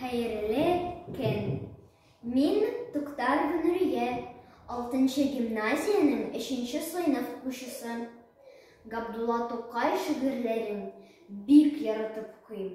Хәерле көн! Мин Туктар Гүнүрия, 6 гимназиянең 3 сыйныф укучысы. Габдулла Тукай шигырьләрен бик яратып укыйм.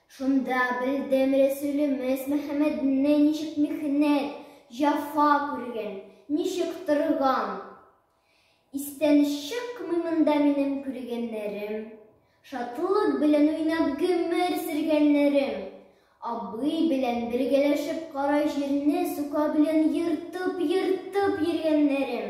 Шунда белдем Рәсүлемез Мөхәммәдне ничек михнәт, җафа күргән, ничек торган. Истән чыкмый монда минем күргәннәрем, шатлык белән уйнап гомер сөргәннәрем. Абый белән бергәләшеп кара җирне сука белән ертып-ертып йөргәннәрем.